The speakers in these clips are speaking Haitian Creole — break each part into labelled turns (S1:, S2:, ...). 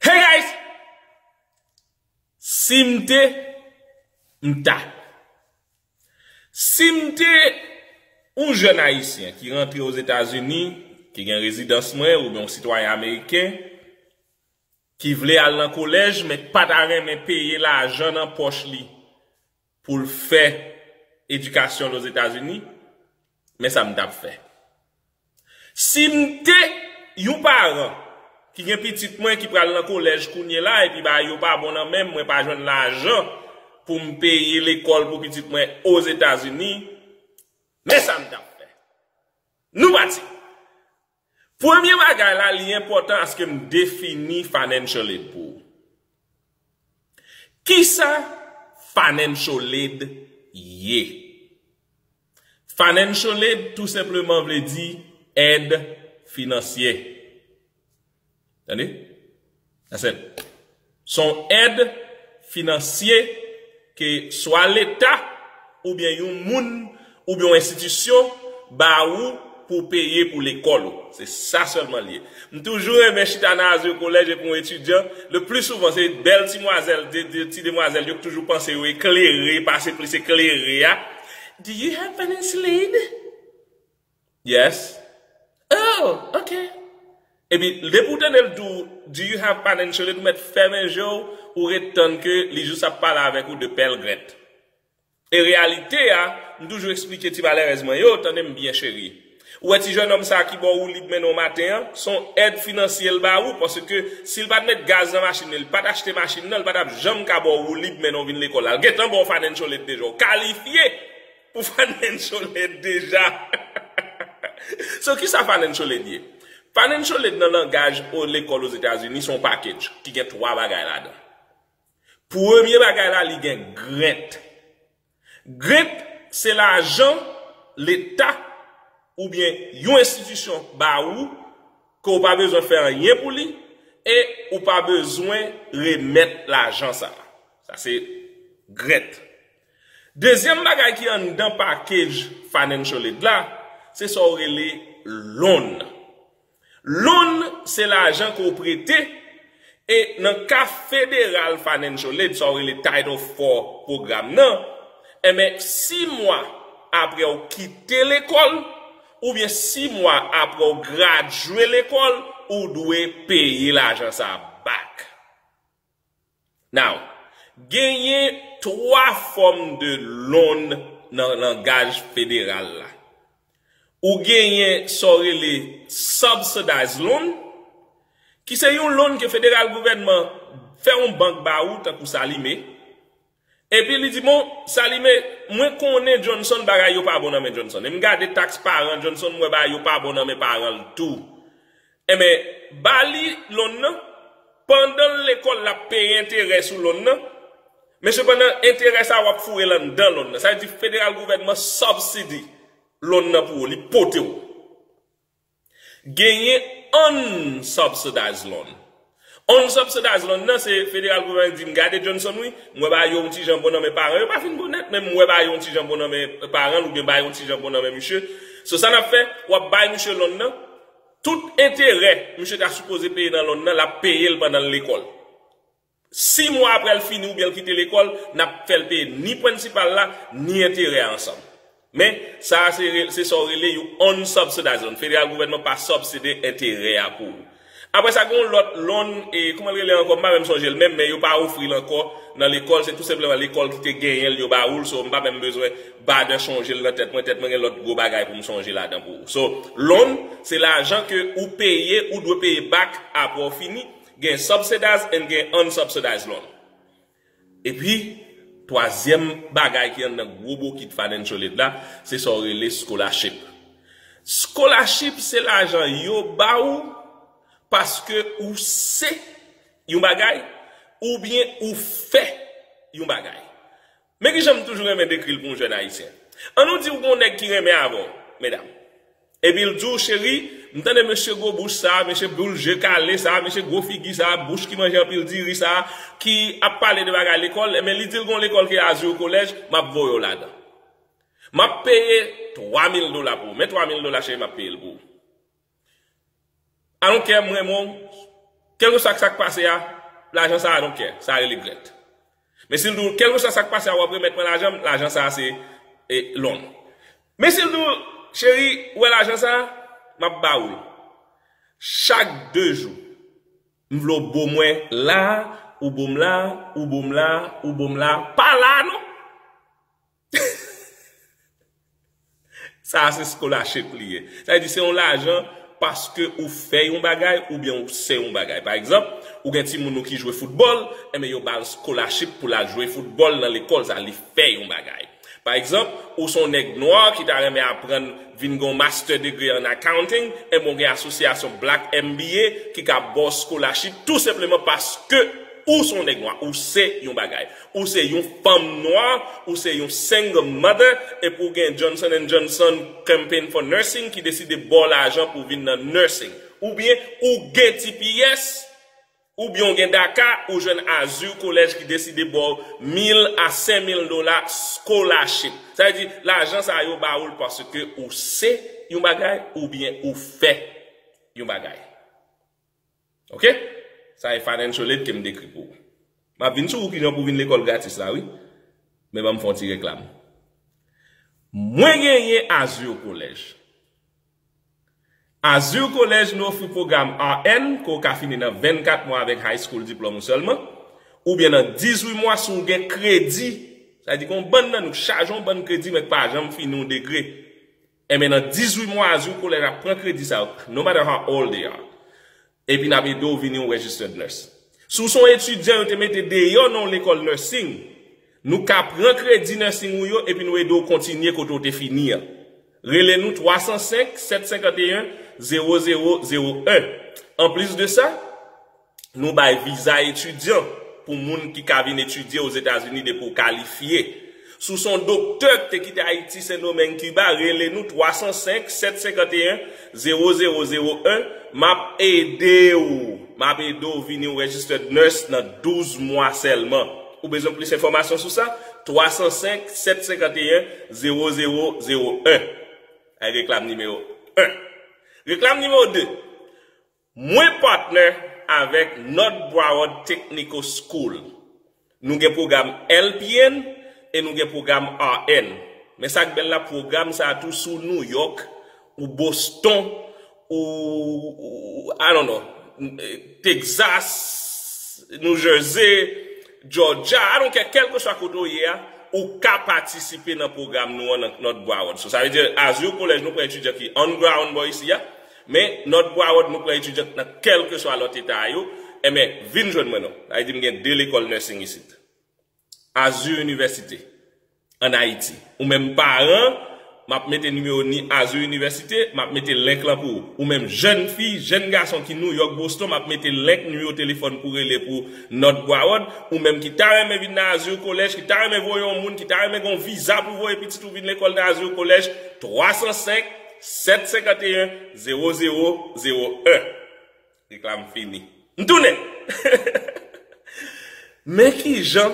S1: Hey guys Sim te M ta Sim te Yon jèn ayisyen ki rantre ozetazini Ki gen rezidans mwen oubyen yon sitwayen ameriken Ki vle al nan kolèj men ki pata renmen peye lajan nan pòch li pou l fè edikasyon l Ozetazini, men sa m t ap fè. Si m te yon paran ki gen pitit mwen ki pral nan kolèj kounyela epi bagay yo pa bon nan men m, mwen pa jwenn lajan pou m peye lekòl pou pitit mwen Ozetazini, men sa m t ap fè. Nou pati! Premye bagay la li enpòtan aske m defini financial aid pou ou. Kisa financial aid ye? Financial aid tou senpleman vle di èd finansye. Tande? That's it. Se yon èd finansye ke swa leta oubyen yon moun oubyen yon enstitisyon ba ou pou w peye pou lekòl ou. Se sa sèlman li ye. M toujou renmen chita nan Azur College epi yon etidyan, le pli souvan se bèl ti mwazèl, ti demwazèl yo k toujou panse yo eklere, pase plis eklere a, Do you have financial aid? Yes. Oh ok. Epi depi ou tande l di w do you have financial aid ou mèt fèmen je w ou ret tann ke li jis ap pale avèk ou de pèl grent. E reyalite a, m toujou esplike ti malerèz mwen yo, tande m byen cheri. Ou wè ti jènòm sa ki bò woulib mennen w maten an, s on èd finansye l ba ou paske si l pa t met gaz nan machin li, li pa t achte machin nan, li pa t ap janm ka bò w woulib mennen w vin lekòl la. L gentan bò w financial aid deja, w kalifye! Ou fanencholet deja. So kisa fanencholet ye? Fanencholet nan langaj o lekòl Ozetazini se yon package ki gen 3 bagay ladan. Premye bagay la li gen grant. Grant se lajan leta oubyen yon enstitisyon ba ou ke ou pa bezwen fè anyen pou li e ou pa bezwen remèt lajan sa. Sa se grant. Dezyèm bagay ki anndan package Financial Aid la, se sa ou rele loan. Loan se lajan ke ou prete e nan ka Federal Financial Aid, sa ou rele Title IV pwogram nan, enben 6 mwa apre ou kite lekòl oubyen 6 mwa apre ou gradye lekòl, ou dwe peye lajan sa back. Now, genyen 3 fòm de loan nan langaj federal la. Ou genyen sa w rele subsidized loan, ki se yon loan ke federal gouvènman fè yon bank ba ou tankou Salime, epi li di bon, Salime, mwen konnen Johnson bagay yo pa bon nan men Johnson, e m gade tax paran Johnson, m wè bagay yo pa bon nan men paran l tou. Enben, ba li lon nan, pandan l lekòl l ap peye enterè sou lon nan, men sepandan enterè sa a w ap foure l anndan lon nan. Sa vle di federal gouvènman subsidy lon nan pou ou, li pote ou. Genyen unsubsidized loan, On subsidize loan nan se federal gouvèman di m gade Johnson wi, m wè bagay yo yon ti jan bon nan men paran yo pa fin bon nèt men m wè bagay yo yon ti jan bon nan men paran l oubyen bagay yo yon ti jan bon nan men misye. So sa n ap fè, w ap bay misye loan nan, tout enterè misye ta sipoze peye nan loan nan l ap peye l pandan l lekòl. Si mwa aprè l fini oubyen l kite lekòl, n ap fè l peye ni prensipal la ni enterè a ansanm. Men, sa a se sa ou rele yon unsubsidized loan. Federal gouvènman pa subside enterè a pou ou. Apre sa gen yon lòt loan, e kouman l rele ankò, m pa menm sonje l menm, men yo pa ofri l ankò nan lekòl, se tou senpleman lekòl ki te genyen l yo ba ou l, so m pa menm bezwen bother chonje l nan tèt mwen, tèt mwen gen lòt gwo bagay pou m sonje ladan pou ou. So, loan, se lajan ke ou peye, ou dwe peye back apre ou fini, gen subsidized and gen unsubsidized loan. Epi, twazyèm bagay ki anndan gwo bokit financial aid la, se sa w rele scholarship. Scholarship se lajan yo ba ou paske ou se yon bagay oubyen ou fè yon bagay. Men ki jan m toujou renmen dekri l pou yon jèn Ayisyen. An nou di ou gen yon nèg ki renmen avè w, medam. Epi l di w cheri, m tande mesye gwo bouch sa a, mesye boul je kale sa a, mesye gwo figi sa a, bouch ki manje anpil diri sa a, ki ap pale de bagay lekòl, enben li di l gon lekòl ki rele Azur College, m ap voye w ladan. M ap peye 3 mil dola pou ou. Men 3 mil dola cheri m ap peye l pou ou. I don't care m renmen w kelkeswa sak pase a lajan sa I don't care sa rele grèt men sil di w kelkeswa sak pase a wap remèt mwen lajan m lajan sa se lon men sil di w cheri ou wè lajan sa map ba ou l chak 2 jou m vle w bo mwen la ou bo m la ou bo m la ou bo m la pa la non. Sa a se scholarship li ye. Sa vle di se yon lajan paske ou fè yon bagay oubyen ou se yon bagay. Pa egzanp, ou gen timoun ou ki jwe foutbòl, enben yo ba l scholarship pou l al jwe foutbòl nan lekòl sa a, li fè yon bagay. Pa egzanp, ou se yon nèg nwa ki ta renmen aprann vin gen yon master degree an accounting, enben ou gen asosyasyon Black MBA ki ka ba w scholarship tou senpleman paske ou se yon nèg nwa, ou se yon bagay. Ou se yon fanm nwa, ou se yon single mother, epi ou gen Johnson and Johnson Campaign for Nursing ki deside ba w lajan pou w vin nan nursing. Oubyen ou gen tps, oubyen ou gen DACA, ou jwenn Azur College ki deside ba w 1000 a 5000 dola scholarship. Sa vle di, lajan sa yo ba ou l paske ou se yon bagay oubyen ou fè yon bagay. Ok Sa e financial aid kem dekri pou ou. Map vin sou ou kijan pou vin lekòl gratis la wi. Men banm fè yon ti reklam. Mwen genyen Azur College. Azur College nou ofri pwogram RN ke ou ka fini nan 24 mwa avèk high school diplòm ou sèlman, oubyen nan 18 mwa si ou gen kredi. Sa vle di gen yon bann nan nou k chaje yon bann kredi men k pa janm fini yon degre. Enben nan 18 mwa as you koleg ap pran kredi sa yo no matter how old they are epi nap ede w vini yon registered nurse. Si w se yon etidyan yo te mete deyò nan yon lekòl nursing, nou ka pran kredi nursing ou yo epi nou ede w kontinye kote w te fini an. Rele nou 305 751 0001. Anplis de sa, Nou bay viza etidyan pou moun ki ka vin etidye Ozetazini depi ou kalifye. Si w se yon doktè ki te kite Ayiti, Sendomeng, Kiba, rele nou 305 751 0001, m ap ede w, m ap ede w vin yon Registered Nurse nan 12 mwa sèlman. Ou bezwen plis enfòmasyon sou sa? 305 751 0001. Reklam nimewo 1. Reklam nimewo 2. Mwen partner avèk North Broward Technical School. Nou gen pwogram LPN e nou gen pwogram RN. Men sa k bèl la pwogram sa a tou si w New York, ou Boston, ou I don't know, Texas, New Jersey, Georgia, I don't care, kèlkeswa kote w ye a, ou ka patisipe nan pwogram nou an nan North Broward. So sa vle di Azur College nou pran etidyan ki on ground bò isi a. Men, nòt pou awòd nou pran etidyant nan kèlkeswa lòt eta a yo, enben, vin jwenn mwen non. Sa vle di m gen 2 lekòl nursing isit. Azur Université, an Ayiti. Ou menm paran, m ap mete nimewo ni Azur Université, m ap mete link lan pou ou. Ou menm jèn fi, jèn gason ki New York, Boston, m ap mete link nimewo telefòn pou rele pou nòt pou awòd. Ou menm ki ta renmen vin nan Azur College, ki ta renmen voye yon moun, ki ta renmen gen yon viza pou voye pitit ou vin lekòl nan Azur College, 305. 7 51 0 0 0 1 Reklam fini. M tounen! Men ki jan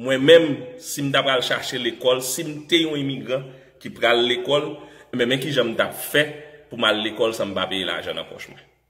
S1: mwen menm si m ta pral chache lekòl, si m te yon imigran ki pral lekòl, enben men ki jan m t ap fè pou m al lekòl san m pa peye lajan nan pòch mwen.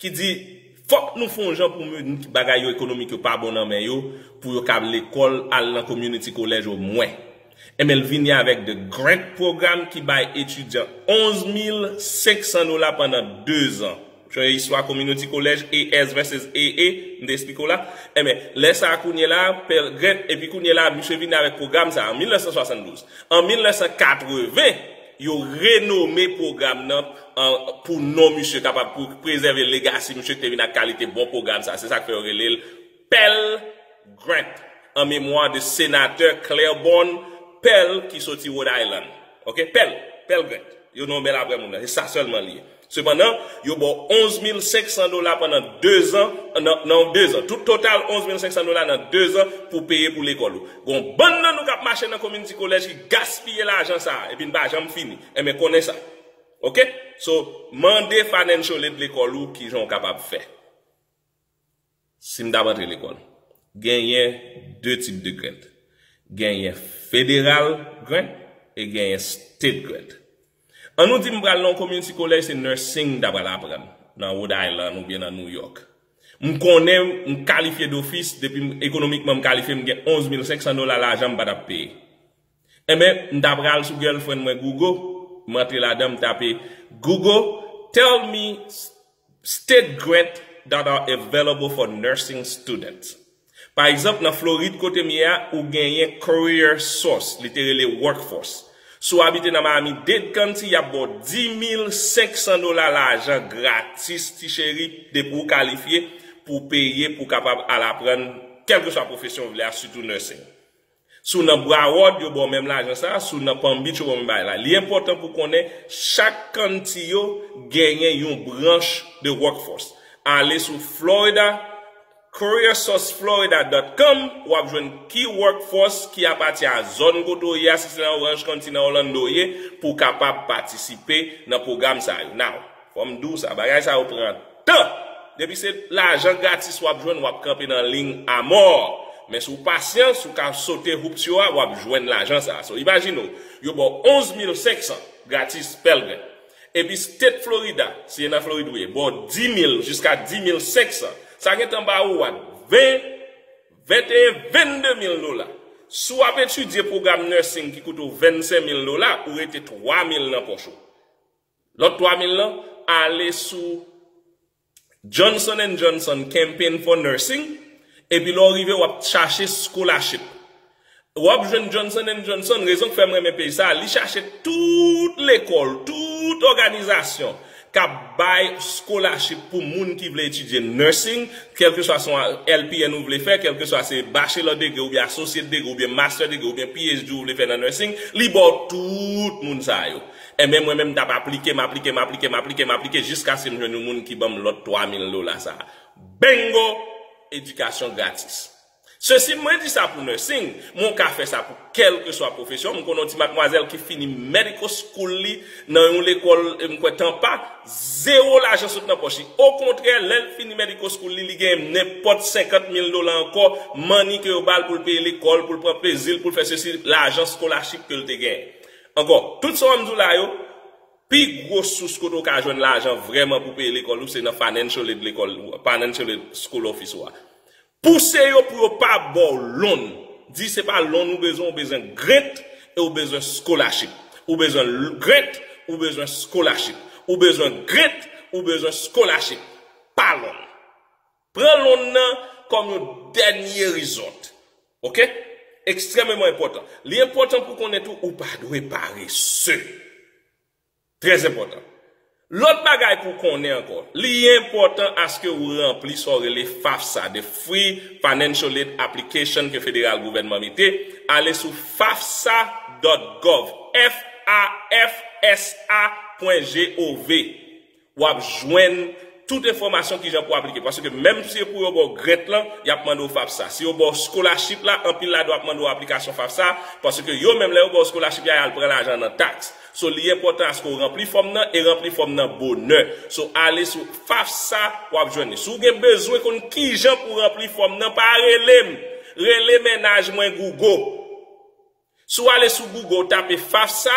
S1: Ki di fòk nou fon jan pou mun ki bagay yo ekonomik yo pa bon nan men yo pou yo kab lekòl al nan community college o mwen. Enben l vini avèk the grant program ki bay etidyan 11 mil 500 dola pandan 2 zan. Ou chonje istwa community college AS vs AA m te esplike w la? Enben lè sa a kounye la a Pell grant epi kounye la a misye vini avèk program sa a an 1972. An 1980 Yo renome pwogram nan an pou non misye kapab pou prezève legasi misye ki te vin ak kalite bon pwogram sa. Se sa k fè yo rele l Pell Grant an memwa de Senatè Claiborne Pell ki soti Rhode Island. Ok, Pell, Pell Grant. Yo nonme l aprè moun nan. Se sa sèlman li ye. Sepandan, yo ba w 11 mil 500 dola pandan dezan, nan dezan. Tout total 11 mil 500 dola nan dezan pou w peye pou lekòl ou. Gen yon bann nan nou k ap mache nan komin Ti Kolèj ki gaspiye lajan sa a epi n pa janm fini. Enben konnen sa. Ok? So, mande Financial Aid lekòl ou kijan w kapab fè. Si m t ap antre lekòl. Genyen de tip de grant. Genyen federal grant e genyen state grant. An nou di m pral nan yon community college se nursing m ta pral aprann nan Rhode Island oubyen nan New York. M konnen m kalifye dofis depi m ekonomikman m kalifye m gen 11 mil 500 dola lajan m pa t ap peye. Enben m ta pral sou girlfriend mwen Google m antre ladan m tape Google tell me state grant that are available for nursing students pa egzanp nan Florid kote m ye a ou genyen career source li te rele workforce si w abite nan Miami Dade County y ap ba w 10500 dola lajan gratis ti cheri depi w kalifye pou w peye pou w kapab al aprann kèlkeswa pwofesyon w vle a sitou nursing. Si w nan Broward, yo ba w menm lajan sa a, si w nan Palm Beach, yo ba w menm bagay la. Li enpòtan pou w konnen chak county yo genyen yon branch de Workforce. Ale sou Florida, careersourceflorida dòt com, w ap jwenn ki Workforce ki apati a zòn kote w ye a, si se nan Orange County, nan Orlando w ye, pou w kapab patisipe nan pwogram sa yo. Now. Fòm diw sa bagay sa yo pran tan depi se lajan gratis wap jwenn wap kanpe nan ligne a mort men si w pasyan si w ka sote hoops yo a wap jwenn lajan sa so imajine w yo baw 11 mil 500 gratis pèlgren epi state Florida si e nan Florid ou ye baw 10 mil jiska 10 mil 500 sa gentan ba ou what 20 21 22 mil dola si wap etidye program nursing ki koute w 25 mil dola ou rete 3 mil nan pòch ou. Lòt 3 mil lan ale sou Johnson and Johnson Campaign for Nursing epi lè w rive w ap chache scholarship. W ap jwenn Johnson and Johnson, rezon k fè m renmen pej sa, li chache tout lekòl, tout òganizasyon k ap bay scholarship pou moun ki vle etidye nursing, kèlkeswa se yon LPN ou vle fè, kèlkeswa se bachelor degree oubyen associate degree oubyen master degree oubyen PhD ou vle fè nan nursing, li ba w tout moun sa yo. Enben mwen menm m t ap aplike, m aplike, m aplike, m aplike, m aplike jiskaske m jwenn yon moun ki ban m lòt 3000 dola sa a. Bingo! Edikasyon gratis. Ceci, mwen di sa pou nursing, men w ka fè sa pou kèlkeswa pwofesyon. M konnen yon ti matmwazèl ki fini medical school li nan yon lekòl, m kwè Tampa, zewo lajan sot nan pòch li. Okontrè, lè l fini medical school li, li genyen nenpòt 50 mil dola ankò, money, ke yo ba l pou l peye lekòl, pou l pran plezi l, pou l fè ceci, lajan scholarship ke l te genyen. Ankò, tout sa w ap di w la yo, pi gwo sous kote w ka jwenn lajan vrèman pou peye lekòl ou se nan Financial Aid lekòl ou a, Financial Aid School Office ou a. Pouse yo pou yo pa ba w loan. Di se pa loan ou bezwen, ou bezwen grant e ou bezwen scholarship. Ou bezwen grant, ou bezwen scholarship. Ou bezwen grant, ou bezwen scholarship. Pa loan. Pran lonn nan kòm yon dènye resort. Ok. Ekstrèmeman enpòtan. Li enpòtan pou konnen tou ou pa dwe parese. Trè enpòtan. Lòt bagay pou konnen ankò, li enpòtan aske ou ranpli sa ou rele FAFSA, The Free Financial Aid Application ke federal gouvènman mete, ale sou fafsa dòt gòv, F A F S A pwen G O V. Wap jwenn tout enfòmasyon kijan pou aplike. Paske menm si pou yo ba w grant lan, yap mande w FAFSA. Si yo ba w scholarship la, anpil la do ap mande w aplikasyon FAFSA, paske yo menm lè yo ba w scholarship ya yal pran lajan nan tax. So li enpòtan aske w ranpli fòm nan e ranpli fòm nan bonè. So ale sou FAFSA wap jwenn li. Si w gen bezwen konn kijan pou ranpli fòm nan pa rele m, rele mennaj mwen Gougo. Si w ale sou Google ou tape FAFSA,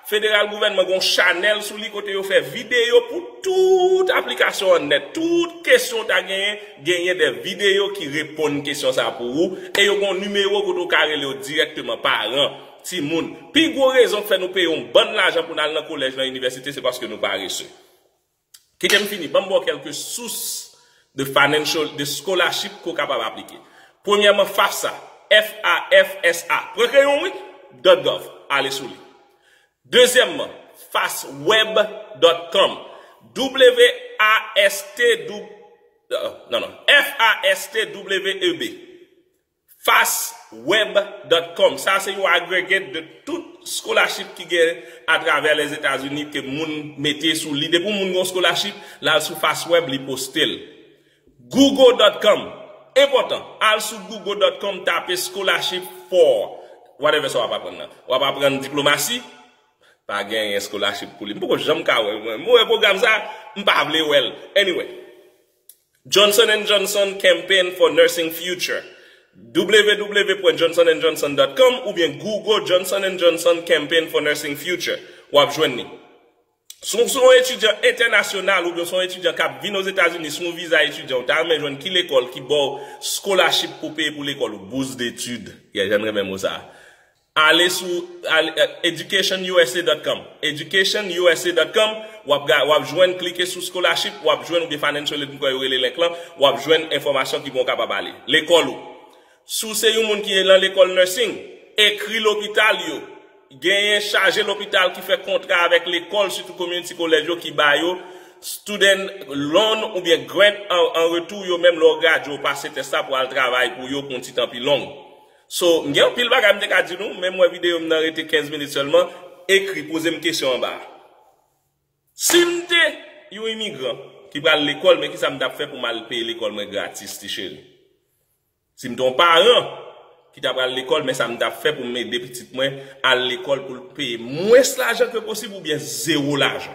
S1: Federal Gouvènman gen yon chanèl sou li kote yo fè videyo pou tout aplikasyon an nèt. Tout kesyon ou ta genyen, genyen de videyo ki reponn kesyon sa a pou ou e yo gen yon nimewo kote ou ka rele yo dirèkteman. Paran, timoun, pi gwo rezon k fè nou peye yon bann lajan pou n al nan kolèj, nan inivèsite se paske nou parese. Kite m fini, ban m ba w kèlke sous de financial, de scholarship ke w kapab aplike. Premyèman FAFSA, F-A-F-S-A, pran kreyon w wi, dot gov, ale sou li. Dezyèmman, fastweb dot com, W-A-S-T-W, non non, F-A-S-T-W-E-B. Fastweb dot com sa se yon agregat de tout scholarship ki gen atravè Lèzetazini ke moun mete sou li. Depi yon moun gen yon scholarship, l al sou Fastweb li poste l. Google dot com, enpòtan, al sou Google dot com tape scholarship for whatever sa w ap aprann nan. W ap aprann diplomasi? Pa genyen scholarship pou li. M poko janm ka wè l mwen. M wè pwogram sa, m pa vle wè l. Anyway. Johnson and Johnson Campaign for Nursing Future, www.johnsonandjohnson.com oubyen Google Johnson and Johnson Campaign for Nursing Future, w ap jwenn li. Si w se yon etidyan entènasyonal oubyen w se yon etidyan k ap vin Ozetazini sou yon viza etidyan, ou ta renmen jwenn ki lekòl ki ba w skolachip pou w peye pou lekòl ou, bourse d'études, yè jan n renmen mo sa a, Ale sou educationusa.com educationusa.com wap ga wap jwenn klike sou scholarship wap jwenn oubyen financial aid m kwè yo rele link lan wap jwenn enfòmasyon ki bon w kapab ale lekòl ou si w se yon moun ki lan lekòl nursing ekri lopital yo genyen chaje lopital ki fè kontra avèk lekòl sitou community college yo ki ba yo student loan oubyen grant an retou yo menm lè w gradye w pase tès la pou al travay pou yo pou yon ti tan pi long. So, m gen anpil bagay m te ka di nou, men m wè videyo m nan rete 15 minit sèlman, ekri, poze m kesyon anba a. Si m te yon imigran ki pral lekòl men kisa m t ap fè pou m al peye lekòl mwen gratis ti cheri? Si m te yon paran ki ta pral lekòl men sa m t ap fè pou m ede pitit mwen al lekòl pou l peye mwens lajan ke posib oubyen zewo lajan?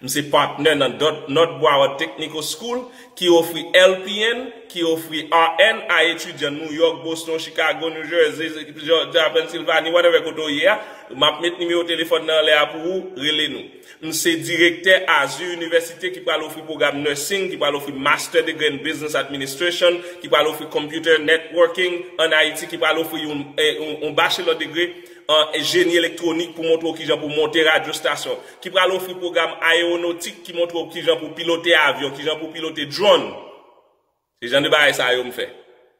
S1: M se patnè nan Nòt Broward Technical School ki ofri LPN, ki ofri RN a etidyan New York, Boston, Chicago, New Jersey, Georgia, Pennsylvanie, whatever kote ou ye a. M ap met nimewo telefòn nan anlè a pou ou, rele nou. M se direktè Azur University ki pral ofri pwogram Nursing, ki pral ofri Master Degree in Business Administration, ki pral ofri Computer Networking an Ayiti, ki pral ofri yon Bachelor Degree an Jeni Elektwonik pou montre ou kijan pou monte radyo stasyon. ki pral ofri pwogram ayewonotik ki montre w kijan pou w pilote avyon, kijan pou w pilote drone. Se jan de bagay sa yo m fè.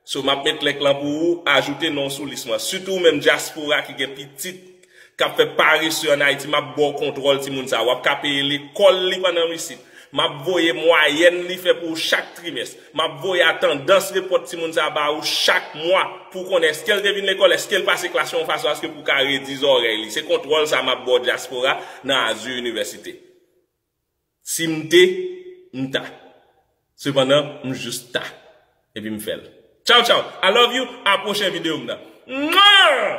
S1: So map met link lan pou ou ajoute non w sou lis mwen. Sitou ou menm dyaspora ki gen pitit kap fè parese an Ayiti map ba w kontwòl timoun sa. Wap ka peye lekòl li pandan w isit. Map voye mwayèn li fè pou ou chak trimès. Map voye a tandans repòt timoun sa ba ou chak mwa pou w konnen eske l te vin lekòl, eske l pase klas yon fason aske pou w ka redi zòrèy li. Se kontwòl sa map ba w dyaspora nan Azur Université. Si m te, m ta. Sepandan, m jis ta. Epi m fè l. Tchaw tchaw! I love you! A pwochen videyo m nan. Mwah!